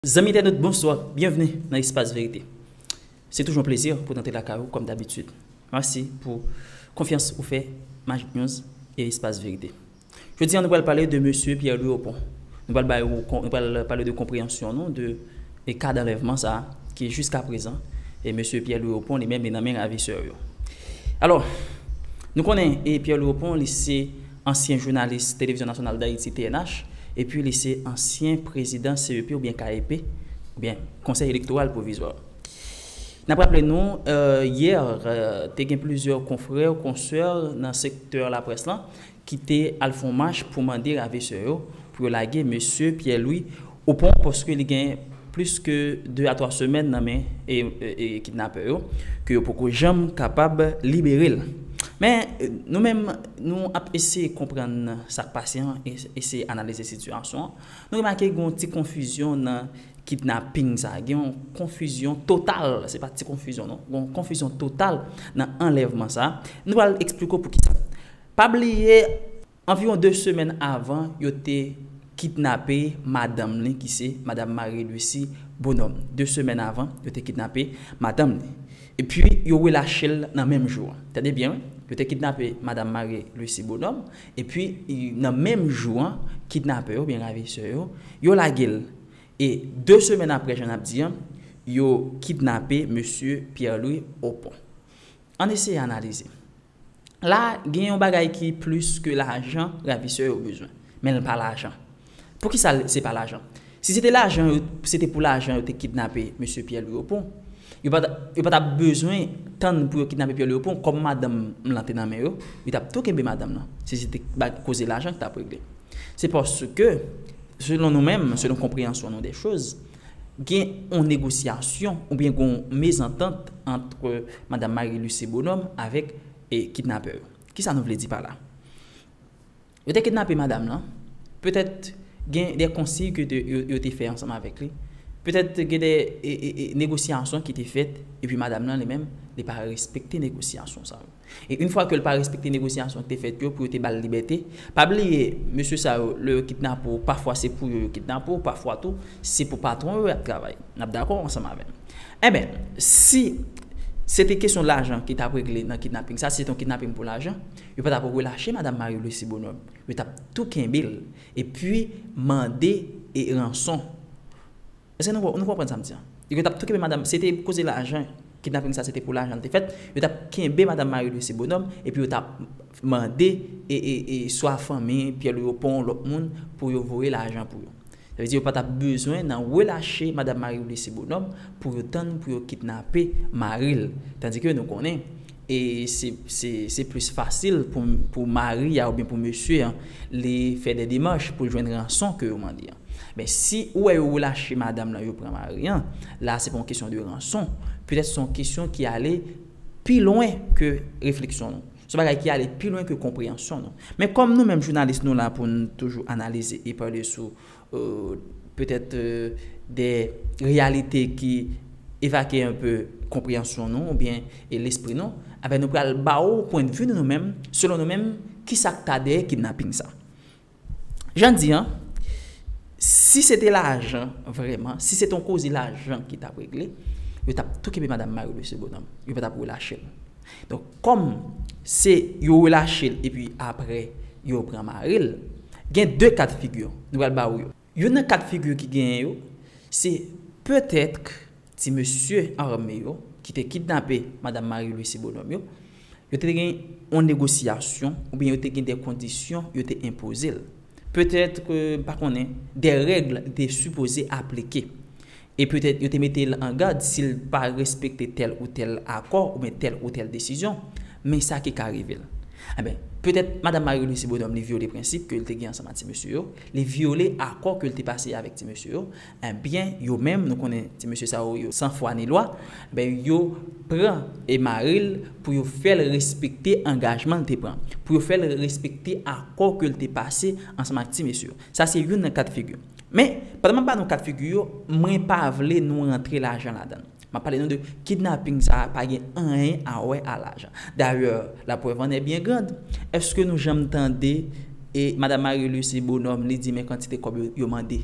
Zanmi entènot bonswa, byenvni nan espas verite. Se toujou yon plezi pou n antre lakay ou kòm dabitid. Mèsi pou konfyans ou fè Magic News e espas verite. Jodi an nou pral pale de mesye Pierre Louis Opont. Nou pral bay ou, nou pral pale de konpreyansyon nou de ka danlèvman sa a ki jiskaprezan e mesye Pierre Louis Opont li menm li nan men ravisè yo. Alò, nou konnen e Pierre Louis Opont li se. Ansyen jounalis Televizyon Nasyonal Dayiti, TNH, epi li se ansyen prezidan CEP oubyen KEP, oubyen Konsèy Elektoral Pwovizwa. N ap raple nou, yè, te gen plizyè konfrè, konsè nan sektè laprès lan ki te al fon mach pou mande ravesè yo pou yo lage Mesye Pierre-Louis Ou pran paske li gen plis ke 2 a 3 semèn nan men kidnapè yo, ke yo poko janm kapab libere l. Men, nou menm, nou ap eseye konprann sa k pase an, eseye analize sitiyasyon an, nou remake gen yon ti konfizyon nan kidnaping sa a, gen yon konfizyon total, se pa ti konfizyon non, gen yon konfizyon total nan anlèvman sa a. Nou pral esplike w pou ki sa. Pa bliye. Anviwon 2 semèn avan yo te kidnape madanm li ki se Madam Marie Lucie Bonhomme. 2 semèn avan yo te kidnape madanm li. Epi yo relache l nan menm jou an. Tande byen wi. Yo te kidnape Madam Marie Lucie Bonhomme epi nan menm jou an kidnapè yo oubyen ravisè yo, yo lage l. E 2 semèn aprè jan n ap di an, yo kidnape mesye Pierre Louis Opont. Ann eseye analize. La, gen yon bagay ki plis ke lajan ravisè yo bezwen. Men l pa lajan. Poukisa l se pa lajan? Si se te lajan yo, se te pou lajan yo te kidnape mesye Pyè Lwi Opon. Yo pa, yo pa t ap bezwen tann pou yo kidnape Pyè Lwi Opon. Kòm madanm m lan te nan men yo, yo t ap tou kenbe madanm lan, si se te bag, koze lajan ki t ap regle. Se paske, selon nou menm, selon konpreyansyon nou dè choz, gen yon negosyasyon oubyen gen yon mezantant ant Madam Marie Luce Bonhomme avèk kidnapè yo. Kisa nou vle di pa la? Yo te kidnape madam lan, petèt gen de konsiy ke yo te fè ansanm avèk li, petèt gen de negosyasyon ki te fèt epi madam lan li menm li pa respekte negosyasyon sa yo. E yn fwa ke l pa respekte negosyasyon ki te fèt yo pou yo te ba l libète, pa bliye mesye sa yo lè yo kidnape w pafwa se pou yo yo kidnape w, pafwa tou se pou patwon yo y ap travay. N ap dakò ansanm avè m. Enben, si se te kesyon lajan ki t ap regle nan kidnaping sa, si se te yon kidnaping pou lajan, yo pa t ap relache Madam Marie Louise Sibonhomme. Yo t ap tou kenbe l epi mande ranson. Eske nou nou konprann sam di an? Yo gen tap tou kenbe madam se te koze lajan kidnaping sa se te pou lajan li te fèt yo tap kenbe madam Marie Louise Bonhomme epi yo tap mande e swa fanmi Pierre Louis yo pwan lòt moun pou yo voye lajan pou yo sa vle di yo pa tap bezwen nan relache madam Marie Louise Bonhomme pou yo tann pou yo kidnape maril tandike nou konnen E se plis fasil pou mari a oubyen pou mesye an li fè dè demach pou l jwenn ranson ke yo mande an. Men si ou wè yo relache madam lan yo pran mari an, la se pa yon kesyon de ranson. Petèt se yon kesyon ki ale pi lwen ke refleksyon nou. Se yon bagay ki ale pi lwen ke konpreyansyon nou. Men kòm nou menm jounalis nou la pou n toujou analize e pale sou petèt de reyalite ki evake anpe konpreyansyon nou oubyen lespri nou, anben nou pral ba ou pwendvi nou nou menm, selon nou menm ki sa k ta dèyè kidnaping sa. Jan di an, si se te lajan vrèman, si se te yon koze lajan ki t ap regle, yo t ap tou kenbe madam Marie-Louise Lebonhôme, yo pa t ap relache l. Donk kòm se yo relache l epi aprè yo pran mari l, gen 2 ka dfigi nou pral ba ou yo. Youn nan ka dfigi ki genyen yo, se petèt ti mesye ame yo ki te kidnape madam Marie Lucie Bonhomme yo, yo te gen yon negosyasyon oubyen yo te gen de kondisyon yo te enpoze l. Petèt, m pa konnen, de règ te sipoze aplike. E petèt yo te mete l an gad si l pa respekte tèl ou tèl akò oubyen tèl ou tèl desizyon, men sa ki ka rive l. Enben, petèt Madam Marie-Lucie Bonhomme li vyole prensip ke l te gen ansanm ak ti mesye yo, li vyole akò ke l te pase avèk ti mesye yo, enben yo menm nou konnen ti mesye sa yo yo san fwa ni lwa, enben yo pran e mare l pou yo fè l respekte angajman l te pran, pou yo fè l respekte akò ke l te pase ansanm ak ti mesye yo. Sa se youn nan ka de figi. Men, pandan m ap ba nou kat figi yo, mwen pa vle nou rantre lajan ladan l. M ap pale nou de kidnaping sa a pa gen anyen a wè a lajan. Dayè, la preuve en est bien grande. Eske nou janm tande e Madam Marie Lucie Bonhomme li di men kantite kòb yo mande?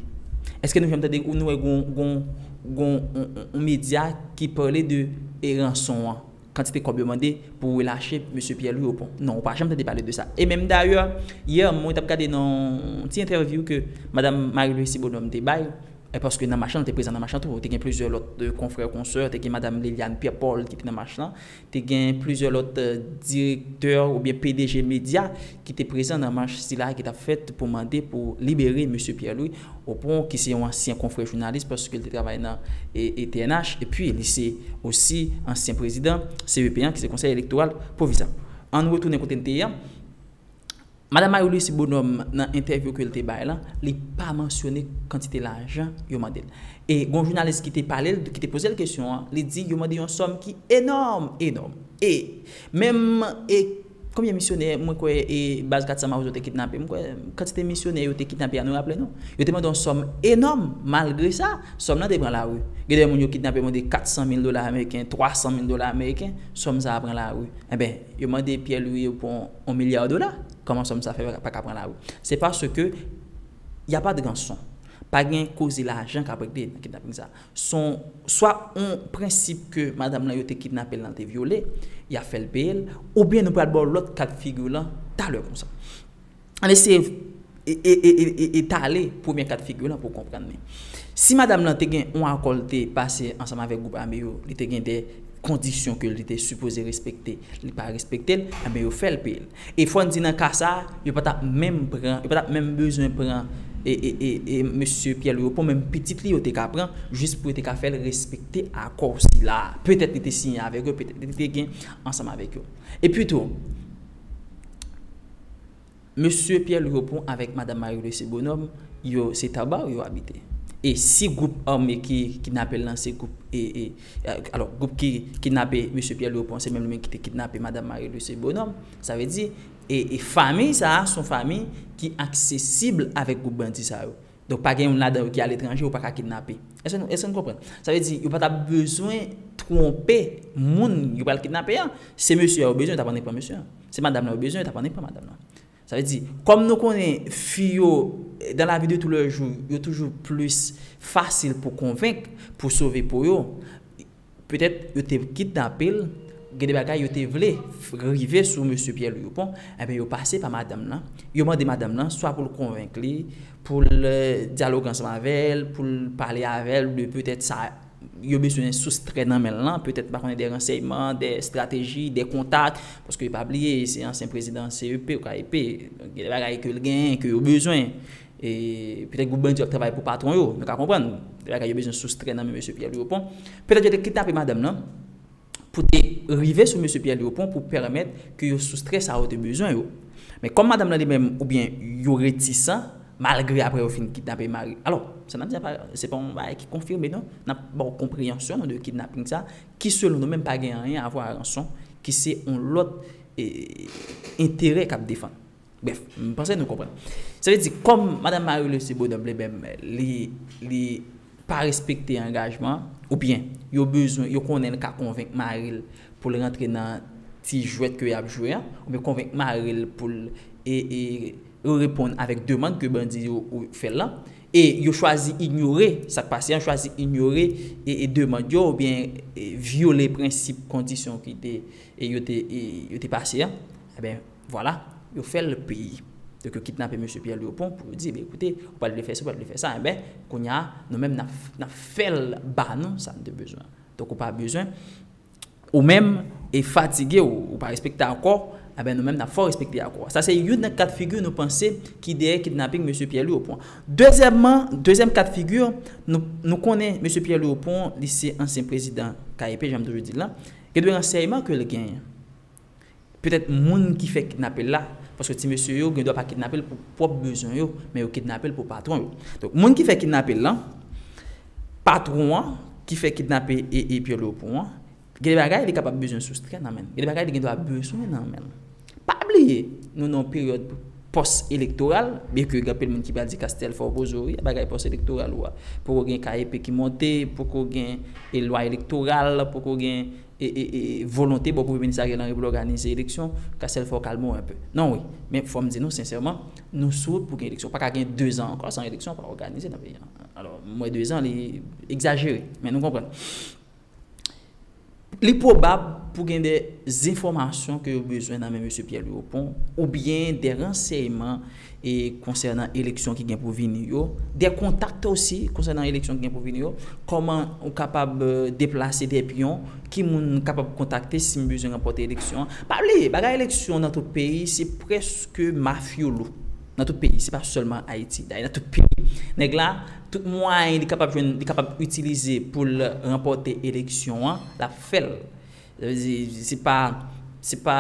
Eske nou janm tande ou nou wè gon yon medya ki pale de e ranson an? Kantite kòb yo mande pou relache Mesye Pierre Louis Opont. Non, ou pa janm tande pale de sa. E menm dayè, yè mwen t ap gade nan yon ti entèvyou ke Madam Marie Lucie Bonhomme te bay, paske nan mach lan, l te prezan nan mach lan tou, te gen plizyè lòt konfrè, konsè, te gen Madam Liliane Pierre Paul ki te nan mach lan, te gen plizyè lòt direktè oubyen pdg medya, ki te prezan nan mach sila ki t ap fèt pou mande pou libere Mesye Pierre Louis Opont ki se yon ansyen konfrè jounalis paske l te travay nan pnh epi li se osi ansyen prezidan CEP an ki se Konsèy Elektoral Pwovizwa. An n retounen kote n te ye an, Madam Marie Lucie Bonhomme nan entèvyou ke l te bay lan li pa mansyone kantite lajan yo mande l e gon jounalis ki te pale l ki te poze l kesyon an li di yo mande yon sòm ki enòm enòm e menm Konbyen misyonè mwen kwè e baz 400 mawozo te kidnape? M kwè kantite misyonè yo te kidnape a nou raple nou? Yo te mande yon sòm enòm, malgre sa, sòm nan te pran lari. Gen de moun yo kidnape mande 400 mil dola ameriken, 300 mil dola ameriken, sòm sa a pran lari. Enben, yo mande Pierre Louis yo pran yon milya dola, kòman sòm sa fè pa ka pran lari? Se paske y a pa de ranson. Pa gen koze lajan k ap regle nan kidnaping sa a. Son swa on prensip ke madam lan yo te kidnapel lan te vyole, ya fèl peyel, oubyen nou pral baw lòt ka dfigure lan talè konsa. Ann eseye etale premye ka dfigure lan pou konprann li. Si madam lan te gen on akò li te pase ansanm avèk gwoup ame yo, li te gen de kondisyon ke li te sipoze respekte, li pa respektel, enben yo fèl peyel. E fòn di nan ka sa, yo pa tap menm pran, yo pa tap menm bezwen pran Mesye Pierre Louis Opont, menm pitit li yo te ka pran, jis pou yo te ka fèl respekte akò sila a. Petèt li te siyen avèk yo, petèt li te gen ansanm avèk yo. E pi tou, Mesye Pierre Louis Opont avèk Madam Marie Lucie Bonhomme, yo se Tabarre yo abite. E si gwoup ame ki kidnapel lan se gwoup e. Alò, gwoup ki kidnape Mesye Pierre Louis Opon se menm li menm ki te kidnape Madam Marie Luce Bonhomme. Sa vle di, e famiy sa a se yon famiy ki aksesib avèk gwoup bandi sa yo. Donk pa gen youn ladan yo ki aletranje ou pa ka kidnape. Èske nou, èske nou konprann? Sa vle di, yo pa t ap bezwen twonpe moun yo pral kidnape an. Se mesye a yo bezwen, yo t ap annik pran mesye a. Se madam lan yo bezwen, yo t ap annik pran madam lan. Sa vle di, kòm nou konnen fi yo dan la vi de tou lè jou, yo toujou plis fasil pou konvenk, pou sove po yo, petèt yo te kidnape l, gen de bagay yo te vle rive sou mesye Pyè Lwi Oupon, enben yo pase pa madanm lan, yo mande madanm lan swa pou l konvenk li, pou l dyaloge ansanm avè l, pou l pale avè l de petèt sa. yo bezwen soustrè nan men l lan, petèt m pa konnen dè ransèyman, dè estrateji, dè kontak, paske pa bliye se ansyen prezidan CEP ou KEP, donk gen dè bagay ke l genyen ke yo bezwen, e petèt gwoup bandi yo ap travay pou patwon yo, nou ka konprann, dè bagay yo bezwen soustrè nan men mesye Pyè Lwi Opon, petèt yo te kidnape madanm lan, pou te rive sou mesye Pierre Durpont pou pèmèt ke yo soustrè sa yo te bezwen yo. Men kòm madanm lan li menm oubyen yo retisan malgre aprè yo fin kidnape mari. Alò, sa nap di a se pa yon bagay ki konfime non. Nap ba w konpreyansyon nou de kidnaping sa ki selon nou menm pa gen anyen avwa a ranson ki se yon lòt enterè kap defann. Brèf, m panse nou konprann. Sa vle di, kòm Madan Marie Lucie Beaudan vle menm li pa respekte angajman, oubyen yo bezwen, yo konnen li ka konvenk mari l pou l rantre nan ti jwèt ke y ap jwe an, oubyen konvenk mari l pou l reponn avèk demand ke bandi yo fè l lan, e yo chwazi inyore, sa k pase an, chwazi inyore demand yo oubyen vyole prensip kondisyon ki te, yo te pase an, enben. Vwala, yo fè l peyi. Donk yo kidnape mesye Pyè Lewopon pou yo di, enben koute, ou pa t vle fè si, ou pa t vle fè sa, enben kounye a, nou menm n ap fè l ba nou sa n te bezwen. Donk ou pa bezwen, ou menm, e fatige w, ou pa respekte akò, enben nou menm n ap fè w respekte akò a. Sa se youn nan kat figi nou panse ki dèyè kidnaping mesye Pyè Lewopon. Dezyèmman, dezyèm kat figi, nou konnen mesye Pyè Lewopon, li se ansyen prezidan KEP, jan m toujou di l lan, gen de ransèyman ke l genyen. Petèt moun ki fè kidnape l la, paske ti mesye yo gendwa pa kidnape l pou pwòp bezwen yo, men yo kidnape l pou patwon yo. Donk, moun ki fè kidnape l lan, patwon an ki fè kidnape ee Pyè Lwopon an, gen de bagay li kapab bezwen soustrè nan men l. Gen de bagay li gendwa bezwen nan men l. Pa bliye, nou nan yon peryòd pòs elektoral, byen ke gen anpil moun ki pral di Castèl fè w bozo wi, bagay pòs elektoral ou a. Poko gen ka epe ki monte, poko gen lwa elektoral, poko gen. volonte bò kote minis Ariel Henry pou l òganize eleksyon, ka sèl fè w kalme w enpe. Non wi. Men fò m di nou sensèman, nou sou wout pou gen eleksyon. Pa ka gen dezan ankò san eleksyon pa òganize nan peyi an. Alò, mwen dezan li egzajere. Men nou konprann. Li pwobab pou gen de zenfòmasyon ke yo bezwen nan men mesye Pyè Lwi Opon oubyen de ransèyman e konsènan eleksyon ki gen pou vini yo, des contacts aussi konsènan eleksyon ki gen pou vini yo, kòman ou kapab deplase des pions, ki moun m kapab kontakte si m bezwen ranpòte eleksyon an. Pa bliye, bagay eleksyon nan tout peyi se prèske mafyolo. Nan tout peyi, se pa sèlman Ayiti. Dayè nan tout peyi. Nèg la, tout mwayen li kapab jwenn, li kapab itilize pou l ranpòte eleksyon an, l ap fè l. Sa vle di, se pa, se pa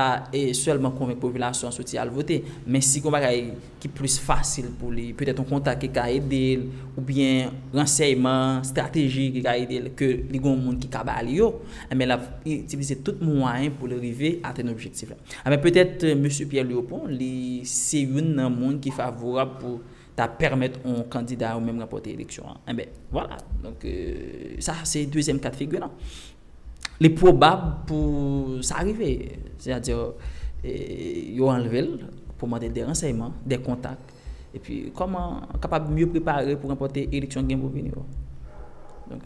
sèlman konvenk popilasyon an soti al vote, men si gen yon bagay ki plis fasil pou li, petèt yon kontak ki ka ede l, oubyen ransèyman estratejik ki ka ede l, ke li gen yon moun ki ka ba li yo, enben l ap itilize tout mwayen pou l rive atenn objektif la. Enben petèt Mesye Pierre Lurpont li se youn nan moun ki favorab pou ta pèmèt yon kandida yo menm ranpòte eleksyon an. Enben, vwala. Donk, sa a se dezyèm ka de figi lan. Li pwobab pou sa rive. Sètadi, yo anlve l pou mande de ransèyman, de kontak. Epi, kòman kapab mye prepare pou ranpòte eleksyon ki gen pou vini yo. Donk,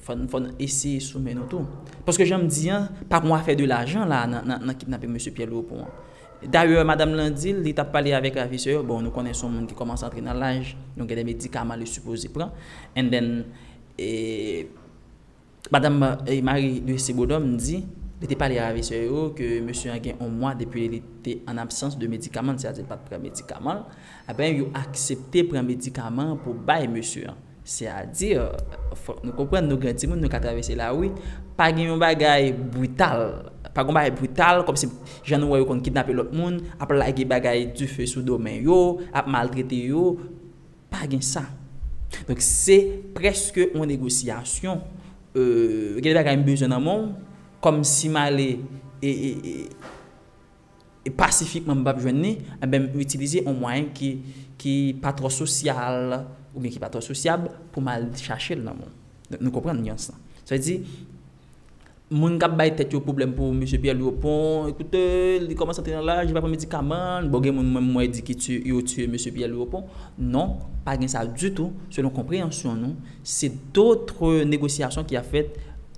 fò n eseye soumen nou tou. Paske, jan m di an, pa gon afè de lajan la a nan kidnape Mesye Pyè Lewopon an. Dayè madam lan di l li t ap pale avèk ravisè yo, bon nou konnen s on moun ki kòmanse antre nan laj, nou gen de medikaman li sipoze pran, and then madam Marie Lucie Beaudhomme di li te pale a ravisè yo ke mesye an gen on mwa depi li te an absans de medikaman l, sètadi li pa t pran medikaman l, eh ben yo aksepte pran medikaman an pou bay mesye an. Se a di, fòk nou konprann nou gran timoun nou ka travèse lari, pa gen yon bagay brital, pa gen yon bagay brital kòm si jan nou wè yo konn kidnape lòt moun, ap lage bagay dife sou do men yo, ap maltrete yo, pa gen sa. Donk se prèske yon negosyasyon, gen de bagay m bezwen nan men w, kòm si m ale e. pasifikman m pap jwenn ni, enben m itilize on mwayen ki pa twò sosyal oubyen ki pa twò sosyab pou m al chache l nan moun. Nou konprann nyans lan. Sa vle di, moun k ap bay tèt yo pwoblèm pou Mesye Pyè Lwi Opon, ekoute, li kòmanse antre nan laj, li pa pran medikaman, bon gen moun menm mwen di ki yo tiye Mesye Pyè Lwi Opon. Non, pa gen sa ditou, selon konpreyansyon nou, Se dotre negosyasyon ki ap fèt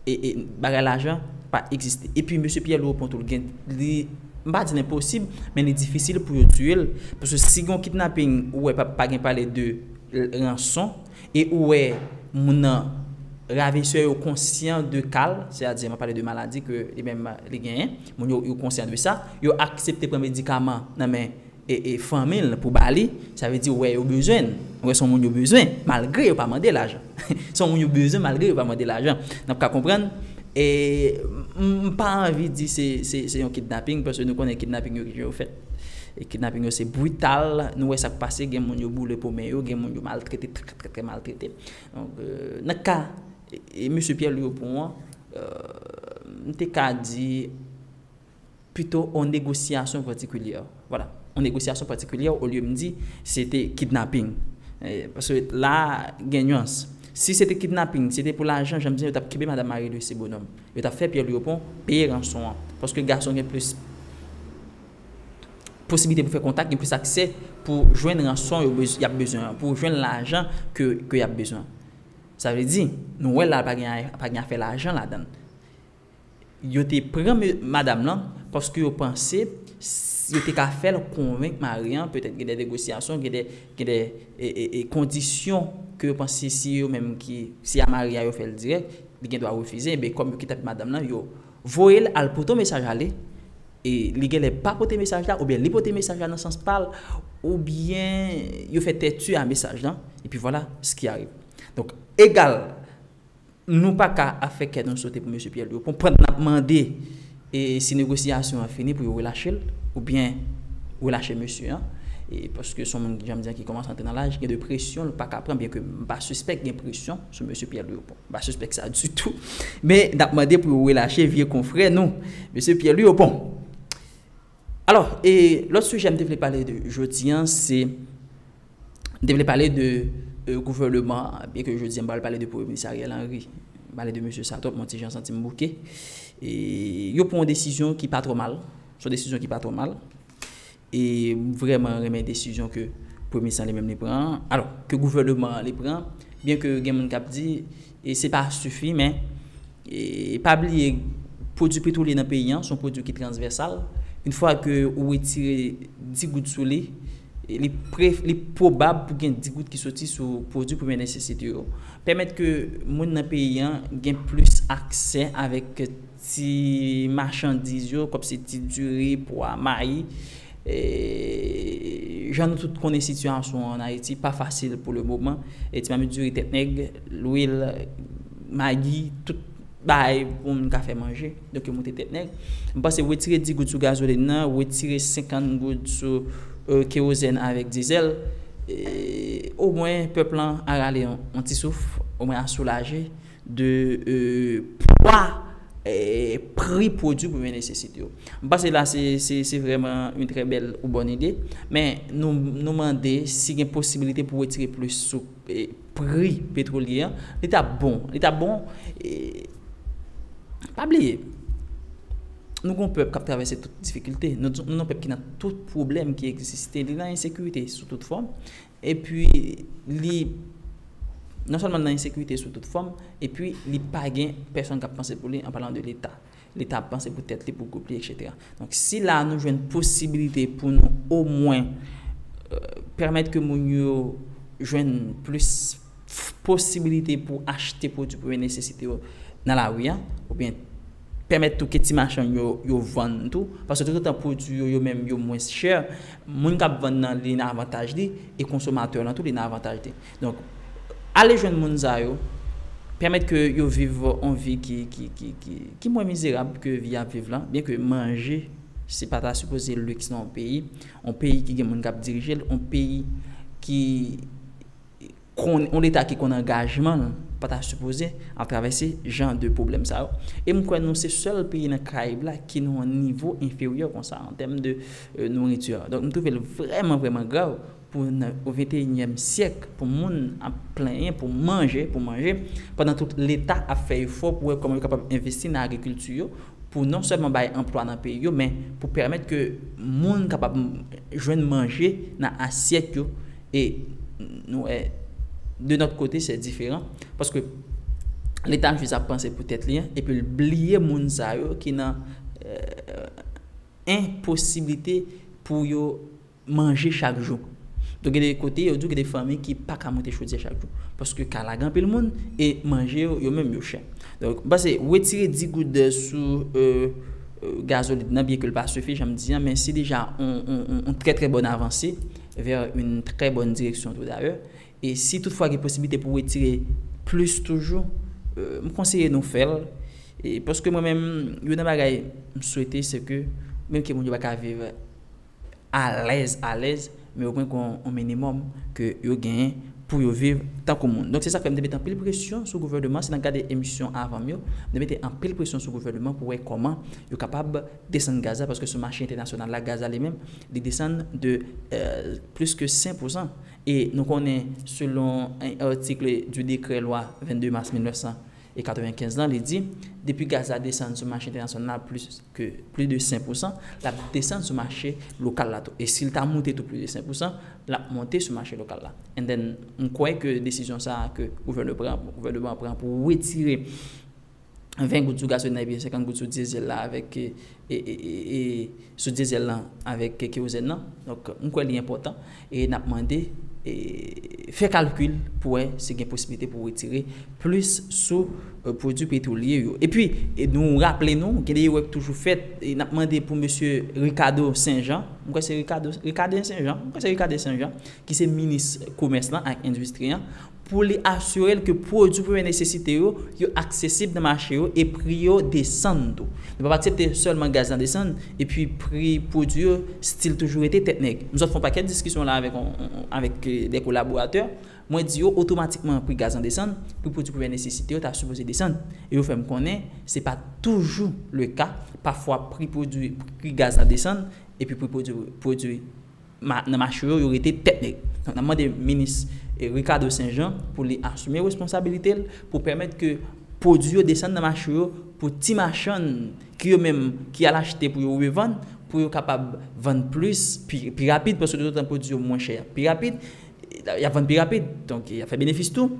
e bagay lajan pa egziste. Epi mesye Pyè Lwo pon tou l gen, li m pa di l enposib men li difisil pou yo tiye l paske si gon kidnaping ou wè pa pa gen pale de ranson e ou wè moun nan ravesè yo konsyan de ka l se a di map pale de maladi ke li menm li genyen moun yo yo konsyan de sa yo aksepte pran medikaman nan men e fanmi l pou ba li, sa vle di ou wè yo bezwen l, ou wè se yon moun yo bezwen malgre yo pa mande lajan se yon moun yo bezwen malgre yo pa mande lajan n ap ka konprann e m pa anvi di se yon kidnaping paske nou konnen kidnaping yo ki jan yo fèt e kidnaping yo se brital nou wè sa k pase gen moun yo boule po men yo gen moun yo maltrete trè trè trè maltrete donk nan ka mesye Pyè Lwi Opon an m te ka di. pito on negosiyasyon patikilyè. Vwala, on negosiyasyon patikilyè olye m di se te kidnaping. Paske la a gen nuans. Si se te kidnaping, se te pou lajan, jan m di yo t ap kenbe madan Marie Louise Bonhomme. Yo t ap fè Pierre Louis Opont peye ranson an. Paske gason gen plis posiblite pou fè kontak, gen plis aksè pou jwenn ranson yo y ap bezwen an, pou jwenn lajan ke y ap bezwen. Sa vle di, nou wè la a pa gen afè lajan ladan l. Yo te pran madam lan paske yo panse yo te ka fè l konvenk mari an, petèt gen de negosyasyon, gen de gen de kondisyon ke yo panse si yo menm ki, se a mari a yo fè l dirèk, li gen dwa refize, men kòm yo ki t ap madam lan, yo voye l al pote yon mesaj ale, e li gen lè pa pote mesaj la, oubyen li pote mesaj la nan sans pa l, oubyen yo fè tèti a mesaj lan, epi vwala s ki arive. Donk, egal, Nou pa ka ap fè kè nou sote pou mesye Pyèl. Yo konprann n ap mande si negosyasyon an fini pou yo relache l oubyen relache mesye an paske s on moun, jan m di an, ki kòmanse antre nan laj. Gen de presyon l pa ka pran byenke m pa sispèk gen presyon sou mesye Pyèl Louis Opont. M pa sispèk sa ditou. Men, n ap mande pou yo relache vye konfrè nou, mesye Pyèl Louis Opont. Alò, lòt sijè m te vle pale de jodi an se. M te vle pale de gouvèneman an, byen ke jodi an m pa pral pale de premye minis Ariel Henry. M pale de mesye sa twòp, m on ti jan santi m bouke. E yo pran yon desizyon ki pa twò mal, se yon desizyon ki pa twò mal. E m vrèman renmen desizyon ke premye minis lan li menm li pran an, alò ke gouvèneman an li pran, byen ke gen moun k ap di, E se pa sifi men e pa bliye pwodwi petwolye nan peyi an se yon pwodwi ki transvèsal. Yon fwa ke ou wetire di goud sou li, li pwobab pou gen di goud ki soti sou pwodwi premyè nesesite yo. Pèmèt ke moun nan peyi an gen plis aksè avèk Ti machandiz yo, kòm se ti diri, pwa, mayi. Jan nou tout konnen sitiyasyon an Ayiti pa fasil pou le moman. Ti mamit diri, tèt nèg, lwil, magi, tout bagay pou moun ka fè manje. Donk yo moute tèt nèg. M panse wetire 10 goud sou gazolin nan, wetire 50 goud sou kewozèn avèk dizèl, omwen pèp lan a rale yon ti souf, omwen a soulaje. de pwa pri pwodwi premye nesesite yo. M panse la se vrèman yon trè bèl ou bòn ide, men nou mande si gen posibilite pou wetire plis sou pri petwolye an, li ta bon, li ta bon pa bliye nou gon pèp k ap travèse tout difikilte, nou gon pèp ki nan tout pwoblèm ki egziste, li nan ensekirite sou tout fòm, Epi li non sèlman l nan ensekirite sou tout fòm, epi li pa gen pèsonn k ap panse pou li, an palan de Leta. Leta ap panse pou tèt li, pou gwoup li, eksetera. Donk, si la a nou jwenn posibilite pou nou omwen pèmèt ke moun yo jwenn plis. posibilite pou achte pwodui premye nesesite yo nan lari a oubyen pèmèt tou ke ti machann yo yo vann tou paske toutotan pwodui yo yo menm yo mwens chè moun k ap vann nan li nan avantaj li e konsomatè lan tou li nan avantaj li donk ale jwenn moun sa yo pèmèt ke yo viv yon vi ki mwen mizerab ke vi y ap viv lan byenke manje se pa ta sipoze liks nan yon peyi yon peyi ki gen moun k ap dirije l yon peyi ki konn yon leta ki konn angajman l pa ta sipoze ap travèse jan de pwoblèm sa yo e m kwè nou se sèl peyi nan karayib la ki nan yon nivo enferyè konsa an tèm de nouriti donk m twouve l vrèman vrèman grav pou nan venteyinyèm syèk pou moun ap plenyen pou manje pou manje pandan tout leta ap fè efò pou wè kòman yo kapab envesti nan agrikilti yo pou non sèlman bay anplwa nan peyi yo men pou pèmèt ke moun kapab jwenn manje nan asyèt yo e nou wè de nòt kote se diferan paske leta jis ap panse pou tèt li an epi l bliye moun sa yo ki nan enposiblite pou yo manje chak jou. Donk gen de kote yo di w gen de fanmi ki pa ka moute chodyè chak jou. Paske ka lage anpil moun e manje yo, yo menm yo chè. Donk m panse wetire 10 goud sou gazolin nan byen ke l pa sifi jan m di an men se deja yon trè trè bòn avanse vè yon trè bòn direksyon tou dayè. E si tout fwa gen posiblite pou wetire plis toujou m konseye nou fè l. Paske mwen menm youn nan bagay m swete se ke menm ke moun yo pa ka viv. alèz alèz men yo pran yon minimòm ke yo genyen pou yo viv tankou moun. Donk se sa k fè m te mete anpil presyon sou gouvèneman, si n ap gade emisyon avan m yo, m te mete anpil presyon sou gouvèneman pou wè kòman yo kapab desann gaz la paske sou mache entènasyonal la gaz la li menm li desann de plis ke 5 pousan e nou konnen selon un article du décret loi 22 mars 1900 E 95 lan, li di, depi gaz la desann sou mache entènasyonal la plis ke plis de 5 pousan, l ap desann sou mache lokal la tou. E si l ta moute tou plis de 5 pousan, l ap monte sou mache lokal la. And then, m kwè ke desizyon sa a ke gouvèneman an pran pou retire 20 goud sou gasolin la epi 50 goud sou diesel la avèk e sou diesel lan avèk kerosène lan donk m kwè li enpòtan e nap mande fè kalkil pou wè si gen posiblite pou retire plis sou pwodwi petwolye yo epi nou raple nou gen de erè ki toujou fèt e nap mande pou mesye Ricardo Saint Jean m kwè se Ricardo Ricardo Saint Jean m kwè se Ricardo Saint Jean ki se minis komès lan ak endistri an pou li asire l ke pwodui premye nesesite yo, yo aksesib nan mache yo e pri yo desann tou. Nou pap aksepte sèlman gaz la desann epi pri pwodui yo stil toujou rete tèt nèg. M sot fè yon pakèt diskisyon la avèk avèk de kolaboratè, mwen di yo otomatikman pri gaz lan desann, pri pwodui premyè nesesite yo ta sipoze desann. E yo fè m konnen se pa toujou le ka, pafwa pri pwodui pri gaz la desann epi pri pwodui pwodui. Nan mache yo, yo rete tèt nèg. Donk n ap mande minis Ricardo Saint Jean pou li asime responsabilite l pou pèmèt ke pwodui yo desann nan mache yo pou ti machann ki yo menm ki al achte pou yo revann pou yo kapab vann plis pi rapid paske toutotan pwodui yo mwen chè y ap pi rapid y ap vann pi rapid donk y ap fè benefis tou.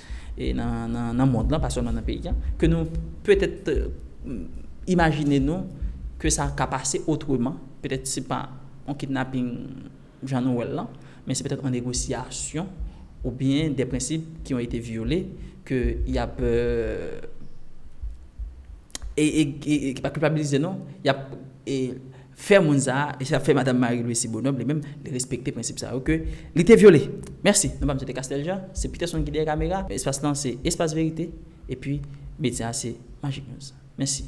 nan mond lan, pa sèlman nan peyi a, ke nou petèt imajine nou ke sa ka pase otreman, petèt se pa yon kidnaping jan nou wè l lan, men se petèt yon negosyasyon ou byen de prensip ki yon ete vyole ke y ap e ki pa kilpabilize nou, y ap e. fè moun sa a, e sa fè Madam Marie Lucie Bonhomme li menm, li respekte prensip sa yo ke li te vyole. Mèsi. Non pa m se te Castel Jean, se Peterson ki dèyè kamera. Espas lan se Espas Verite, epi medya a se Magic News. Mèsi.